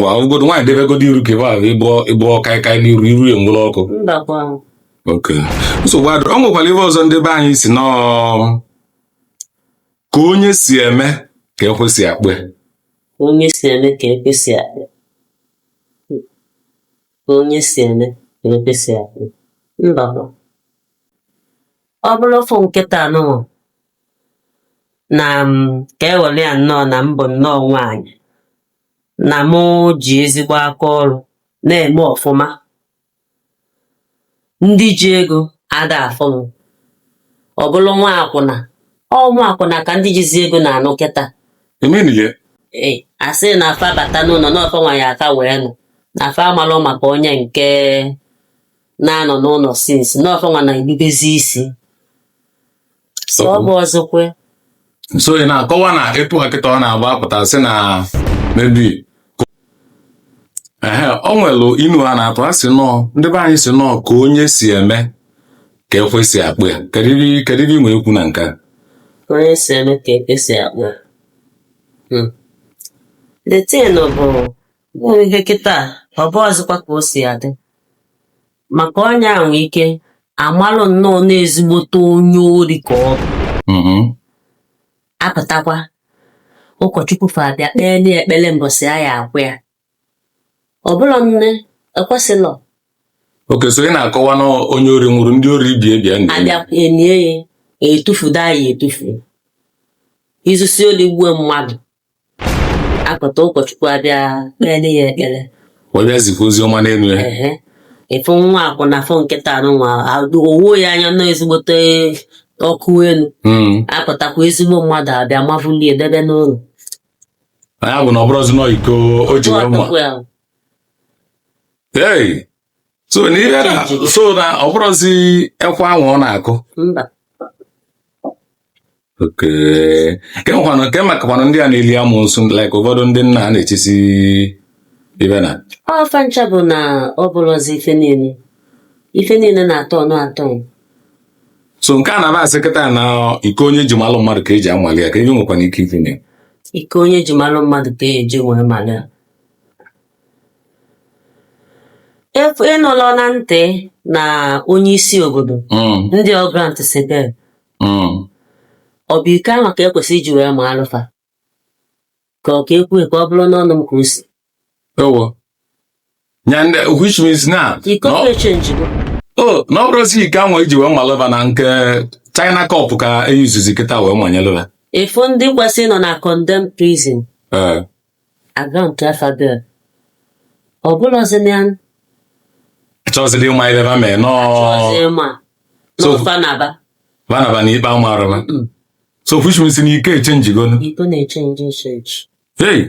ma ọgụgodo nwaanyị debegodo iru ka ebe ahụ ịbụọ ịbụọ kaịkaị n'iru iru ya nwere ọkụ mbakwa ahụ okay nsogbu adịrọ ọ nwekwara ive ọzọ ndị be anyị sị na ọ ka onye si eme ka ekwe si akpọ ya ka onye si eme ka ekwe si akpọ ka onye si eme ka ekwe si akpọ mbakwa ọ bụrụ ofu nkịta anụnwa na m ka e were ya nnọọ na m bụ nnọọ nwaanyị na mụ ji ezigbo aka ọrụ na-eme ọfụma ndị ji ego ada afụ m ọ bụrụ nwa akwụna ọ nwa akwụna ka ndị jizi ego na-anụ kịta e menie a sị na fa bata n'ụnọ na ọ fa nwa ya aka wee nụ na fa amalụ maka onye nke na-anọ n'ụnọ since na ọ fa nwa na-erubezi isi so ọ bụrọzikwa so ị na-akọwa na etu a kịta ọ na-agba apụta sị na maybe ehe o nwere inu a na-atụ a sị nọọ ndị be anyị sị na ọ ka onye si eme ka ekwe si akpọ ya kedu ive- kedu ive i nwe ikwu na nke a? onye si eme ka ekwe si akpọ ya. Hmm. the thing bụ bụ ihe kịta ọ bụrọzikwa ka o si adị maka onye a nwee ike a malụ nnọọ na ezigbote onye ori ka ọ bụ Mhm. a pụtakwa ụkọchukwu fa abịa kpee na ekpere mbọsị a ya-akwa ya ọ bụrụ nne ekwesịlọ okay so ị na-akọwa na onye ori nwụrụ ndị ori ibe ya abịa enie ya etufudo anyị etufu i zusie oli gbuo mmadụ a pụta ụkọchukwu abịa kpere ya ekpere wee bịa zikwa ozi ọma n'elu ya ehe ị fụ nwa akwụna fụ nkịta anụnwa o wo ya anya na ọ ezigbote ọkụ enu Mm. a pụtakwa ezigbo mmadụ abịa mavulie debe n'ụlọ ya bụ na ọ bụrụzi na iko o ji wee ma Ọtụkwa ya. Hey! so na ihe na so na ọ bụrụzi ekwe anwa ọ na-akụ mba okay kee kwanụ kee makakwanụ ndị a na-eli amụsụ like ụfọdụ ndị nna a na-echisi ive na ọ fa ncha bụ na ọ bụrụzi ife niile ife niile na-atọ ọnụ atọ so nke a na-aba asị kịta na iko onye ji malụ mmadụ ka e ji amalị ya ka e ji nwekwana ike ifinye iko onye ji malụ mmadụ ka e ji wee mara ya Efu ị nụla na ntị na onye isi obodo Mm, ndị ọgrant si bịa mm. ọ bụ iko anwa ka e kwesị iji wee malụ fa ka ọ ka ekwu ka ọ bụrụ n'ọnụ m ka o si Ewo. Ya ndị which means na iko na ọ- echenjigo o na ọ bụrụzi iko anwa e ji wee malụ va na nke China cup ka eyuzuzi kịta wee manyelụ va. even ndị kwesịrị ịnọ na condemned prison Ee. A grantịa fa bail ọ bụlụzi na achọghịzịla ịma ive va mee nọọ ọzọ ma So- n'ofa na-aba va naba na ikpe amarọ va Mm. so which means na ike echenjigonu ike na-echenji echenji hey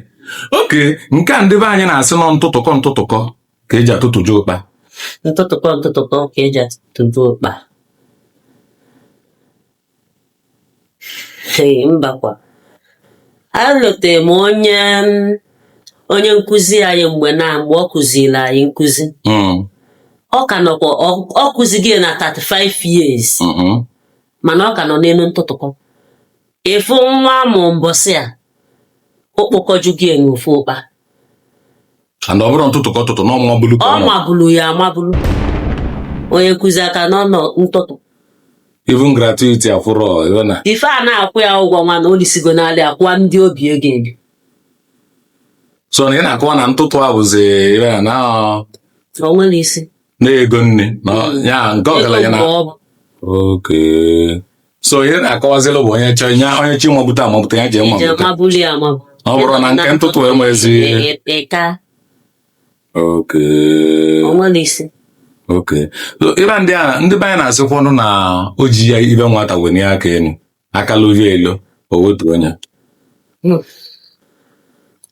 okay nke a ndị be anyị na-asị n'ọ ntụtụkọ ntụtụkọ ka eji atụtụju ụkpa ntụtụkọ ntụtụkọ ka eji atụtụju ụkpa Ee, mbakwa alotere m onye onye nkụzi anyị mgbe na mgbe ọ kụziri anyị nkụzi Mm, ọ ka nọkwa ọ- ọ kụzigo ya na 35 years mm, mm. mana ọ ka nọ n'elu ntụtụkọ ị fụ nwa a mụ mbọsị a o kpokọjugo ya n'ofu ụkpa and ọ bụrọ ntụtụ ka ọ tụtụ na ọ mabulu ka ọ ọ ma mabulu ya amabulu onye nkụzi a ka nọ na ntụtụ even gratuity afụrọ ịghọ na ife a na-akwụ ya ụgwọ ọnwa na o lisigo n'alị akwụwa ndị o bi ego ebi so na ị na-akọwa na ntụtụ a bụzi ịghọ na na ọ- o nwerọ isi na ego nne na ọ- ya nke ọgaranya na Ego mgbe ọ bụ. okay so ihe na-akọwazilụ bụ onye chọọ nye onye chọ mabute amabute ya je je mabute mabuli amabu. ọ bụrụ na nke ntụtụ enwezi Ị- ị- ị ka oke o nwerọ isi. okay so ive ndị a ndị be anyị na-asịkwanụ na o ji ya ive nwata wenie aka elu aka lụzie elo o wetuo nye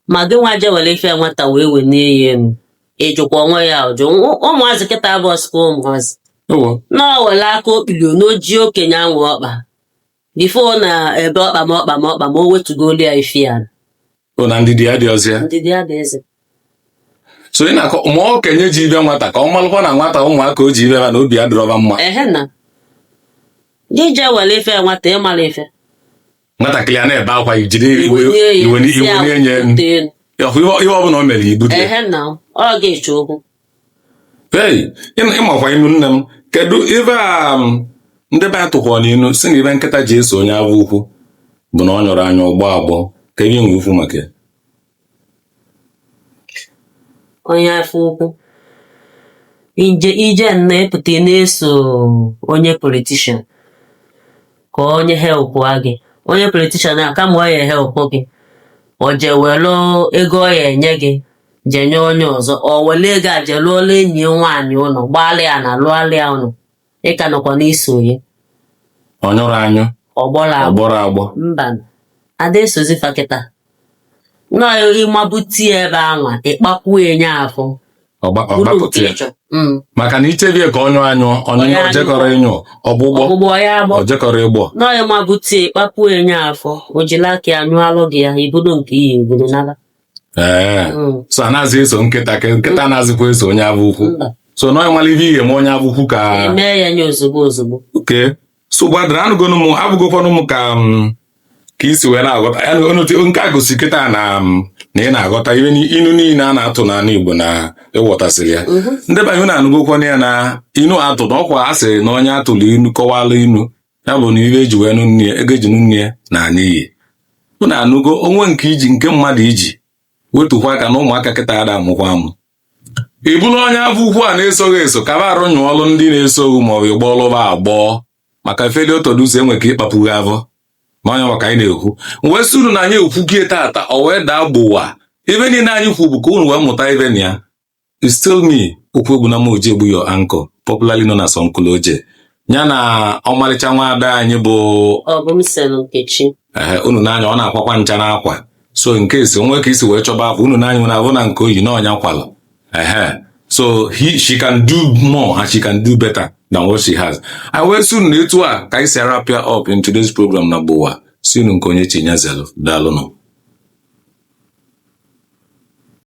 Ma gị nwa je were ife nwata wee wenie ya elu. ị jụkwa onwe ya ụjụ Nwa- ụmụazị kịta abụsịkwa ụmụazị ewo na ọ were aka okpilio n'oji okenye anwụ ọkpa before ọ na-ebe ọkpa m ọkpa m ọkpa m o wetugolu ya ife ya o na ndidi adịrọzi ya ndidi ya bụ eze so ị na-akọ ma okenye ji ive nwata ka ọ malụkwa na nwata ụmụaka o ji ive ha na obi adịrọ va mma ehe na gị jee were ife ya nwata ị mara ife nwatakịrị a na-ebe akwa i jiri iwe Iwe nye ya, iwe isi iwe awụ na-enye ndị elu. ọhụ ihe ihe ọbụla o mere i bute Ehe na ọ ga-ese okwu. ei ịma- ị makwa inu nne m kedu ive a m, ndị be anyị tụkwara n'inu sị na ive nkịta ji eso onye avọ ukwu bụ na ọ nyụrọ anyụ ọ gbọọ agbọ kee ihe ị na-ekwu maka ya onye afọ ukwu i je i je nnọọ ị pụta ị na-eso onye politician ka onye helpụ gị onye politician a kama ọ ya-ehelpụ gị o je were ego ọ ya-enye gị je nye onye ọzọ o were ego a je lụọla enyi ya nwaanyị ụlọ gbaala ya na lụọla ya ụlọ ị ka nọkwa na-eso ya ọ nyụrọ anyụ ọ gbọrọ agbọ ọ gbọrọ agbọ mba a da esozi fa kịta nọ ị mabute ya ebe anwa ị kpakwuo enye afọ ọgba- bụrụ nke ọ gbọpụta ya ị chọ Mm. maka na i chebie ka ọ nyụọ anyụ ọnyụnyụ anyụ. o jekọrọ ịnyụ ọgbụgbọ ọgbụgbọ ya agbọ o jekọrọ ịgbọ nọ ị mabute ị kpakwuo enye afọ o jila aka ya nyụọlụ gị ya i bulu nke ị ya-ebulu naba ee Mm. so anazị eso nkịta ka nkịta anazịkwa eso onye afọ ukwu Mba. so na ịmala ihe ihe ma onye afọ ukwu ka e mee ya nye ozugbo ozugbo. okay so gbadara anụgonu m afụgokwanụ m ka m ka i si wee na-aghọta ya na onotu nke a gosi kịta na m na ị na-aghọta ihe ni- inu niile a na-atụ n'ala Igbo na ị ghọtasịrị ya Mhm. ndị be anyị unu anụgokwanụ ya na inu atụ na ọkwa a sịrị na onye a tụrụ inu kọwala inu ya bụ na ife e ji wee nụ nne ya ego e ji nụ nne ya naa n'iyi unu anụgo o nwee nke iji nke mmadụ iji wetukwa aka na ụmụaka kịta ada amụkwa amụ ị bụrụ onye afọ ukwu a na-eso gị eso kaba arụ nyụọrụ ndị na-eso gị ma ọ bụ ị gbọọlụ ba agbọ maka failure to do so e nwe ike ịkpapụ gị afọ ma onye maka anyị na-ekwu wee sị unu na anyị ekwugie tata o wee daa gbowa ife niile anyị kwu bụ ka unu wee mụta ife na ya It's still me, Okwuegbunam Ojiegbu your anchor, popularly known as Uncle Oje. Ya na ọmarịcha nwaada anyị bụ ọ bụ m sen nkechi ehe unu n'anya ọ na-akwakwa ncha n'akwa so in case o nwee ka i si wee chọba akwa unu n'anya nwere afụ na nke o yi na ọ ya kwalụ ehe so he, she can do more and she can do better than what she has E wee sị unu na etu a ka anyị si a-wrap up in today's program na gbowa si unu nke onye chinyezelu daalụnụ